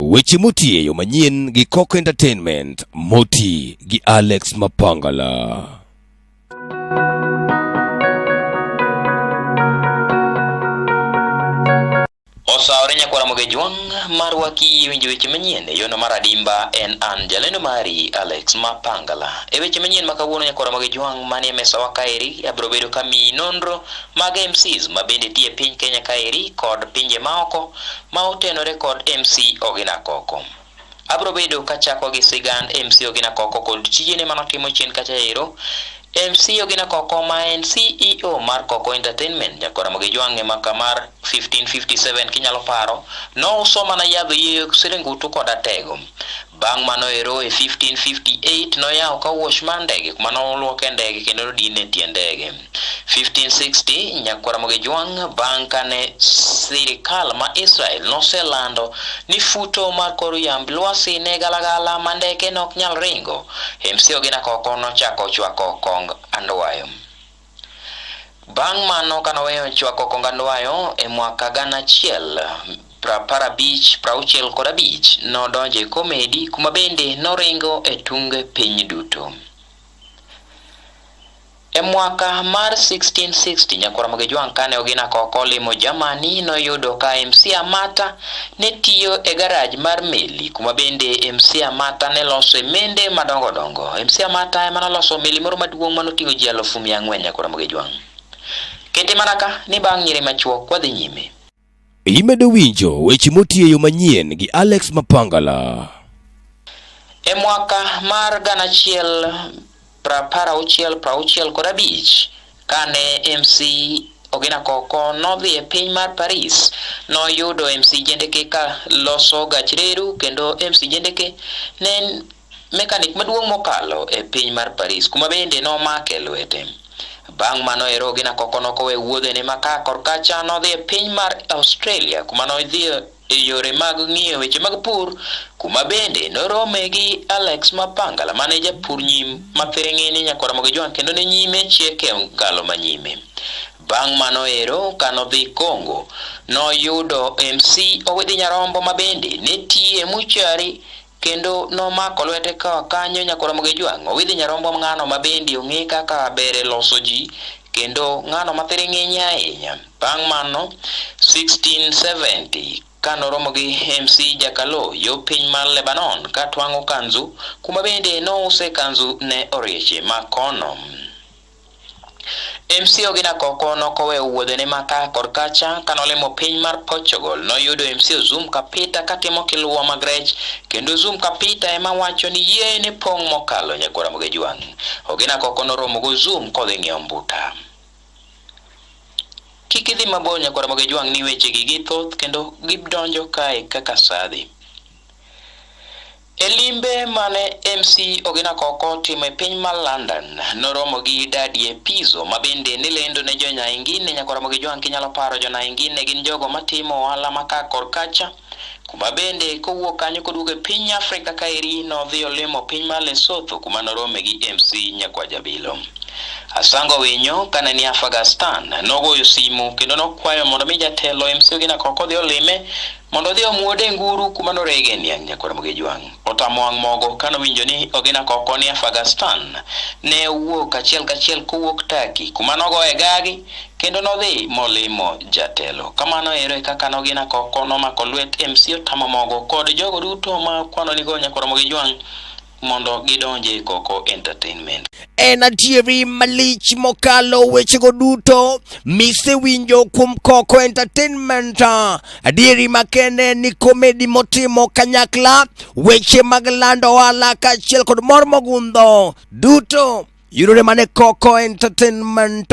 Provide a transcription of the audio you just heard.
Weche moti e yo manyien gi Coco Entertainment, moti gi Alex Mapangala. Osawore nyakwara moge jwang' mar waki winjo weche manyien e yono mar adimba en an jalendo mari Alex Mapangala. E weche manyien ma kawuono nyakwara moge jwang' manie mesawa kaeri abiro bedo kamiyi nonro mag MCs ma bende tie piny Kenya kaeri kod pinje maoko ma otenore kod MC Ogina Koko. Abro bedo kachako gi sigand MC Ogina Koko kod tijene ma notimo chien kacha ero. MC Ogina Koko ma en CEO mar Koko Entertainment nyakoramo gi jwang'e maka mar 1557 kinyalo paro, nouso mana yadh yie siringutu kod atego. Bang' mano ero e 1558 noyawo ka wash mar ndege kuma noluoke ndege kendo nodine tie ndege. 1560 Nyakwar Ramogi Jwang' bang' kane sirikal ma Israel noselando ni futo mar kor yamb lwasi ne galagala ma ndeke ne ok nyal ringo, MC Ogina Koko nochako chwako kong andwayo. Bang' mano ka noweyo chwako kong andwayo e mwaka gana achiel prapar abich prauchiel kod abich nodonjo e komedi kuma bende noringo e tunge piny duto. E mwaka mar 1660 nyakwar Mogejwang' kane ogina koko limo Germany noyudo ka MC Amata ne tiyo e garaj mar meli kuma bende MC Amata ne losoe mende madongo dongo. MC Amata ema noloso meli moro maduong' ma noting'o ji alufu mia ang'wen nyaka Ramogi Jwang'. Kete mana ka ni bang' nyiri machuok wadhi nyime. Imedo winjo weche motiyo e yo manyien gi Alex Mapangala. E mwaka mar gana achiel Prapar auchiel prauchiel kod abich kane MC Ogina Koko nodhi e piny mar Paris, noyudo MC Jendeke ka loso gach reru kendo MC Jendeke ne en mekanik maduong' mokalo e piny mar Paris kuma bende nomake lwete. Bang' mano ero Ogina Koko nokowe wuodhene ma ka korkacha nodhi e piny mar Australia kuma nodhi e yore mag ng'iyo weche mag pur, kuma bende norome gi Alex Mapangala mane japur nyim ma thiring'ini nyakwar Mogi Jwang' kendo ne nyime chiek e ngalo ma nyime. Bang' mano ero ka nodhi Congo, noyudo MC Owidhi Nyarombo ma bende ne tiye muchari Kendo nomako lwete ka kanyo nyaka oromo gi jwang' owidhi nyarombo ng'ano ma bende ong'e kaka ber e loso ji kendo ng'ano ma thiring'inye ahinya. Bang' mano, 1670 ka noromo gi MC Jakalo yo piny mar Lebanon ka twang'o kanzu, kuma bende nouse kanzu ne orieche ma kono. MC Ogina Koko nokoweyo wuodhene ma ka kod kacha ka nolimo piny mar Portugal noyudo MC Ozum Kapita katimo kiluwa mag rech kendo Ozum Kapita ema wacho ni yie ne pong' mokalo nyagwara Mogejwang'. Ogina Koko noromo go Ozum kodhi ng'iewo mbuta. Kik idhi mabor nyagwara Mogejwang' ni wechegi githoth kendo gidonjo kae kaka sadhi. E limbe mane MC Ogina Koko timo e piny mar London, noromo gi Dadie Pizzo ma bende ni lendo ne jo Nyaingine nyaka oromo gi Joan Kinyalo Paro. Jo Naingine gin jogo matimo ohala ma ka kor kacha, kuma bende kowuok kanyo koduogo e piny Afrika kaeri nodhi olimo piny mar Lesotho kuma norome gi MC Nyakwa Jabilo. Asango Winyo kane ni Afghanistan nogoyo simu kendo nokwayo mondo mi jatelo MC Ogina Koko odhi olime Mondo odhi omuode nguru kuma norege niang' nyakwar Mogejwang'. Otamo wang' mogo ka nowinjo ni Ogina Koko ni Afagastan. Ne owuok achiel kachiel kowuok Turkey kuma nogoye gagi kendo nodhi molimo jatelo. Kamano ero e kaka Nogina Koko nomako lwet MC Otamo Mogo kod jogo duto ma kwanonigo nyakwar Mogejwang' mondo gidonj e Koko Entertainment. En adieri malich mokalo wechego duto misewinjo kuom Koko Entertainment. Adieri makende ni komedi motimo kanyakla, weche mag lando ohala kaachiel kod mor mogundho duto yudore mana e Koko Entertainment.